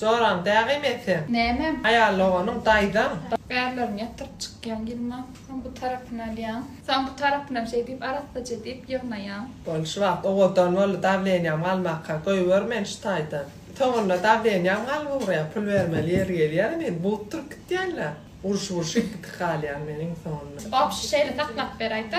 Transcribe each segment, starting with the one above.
Joram dägim e sen. Näme? Aýaly oganyň daýzaň. Bärlerini ýatyryp çykýaň ýylma. Soň bu tarapyny alýaň. Soň bu tarapynam şeý diýip arassaja diýip ýygnaýaň. Bol şu wagt owadan boldy dawleniýam galmaka goýber meni şu taýdan. Soňunda dawleniýam galyp ugraýar pul bermeli ýeri gelýärem indi bug turup gitýänler. Urşup urşup gitip galýan men iň soňunda. Obşi şeýle saklap beraýda.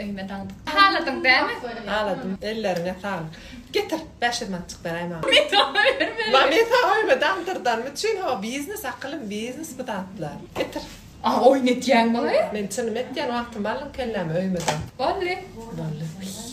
Öýüme daňdyk. Haladyň dämi? Haladym. Elleriňe saglyk. Getir, bäşirmançyk beräý maňa. Men saňa bermerin. Maňa men saňa öýüme daňdyrdanmy üçin ho biznes akylym biznes bu zatlar. Getir. A oýun etýäň maňa? Men çynym etýän wagtymy aldyň kelläme öýüme daň. Bolly. Bolly. Wiý.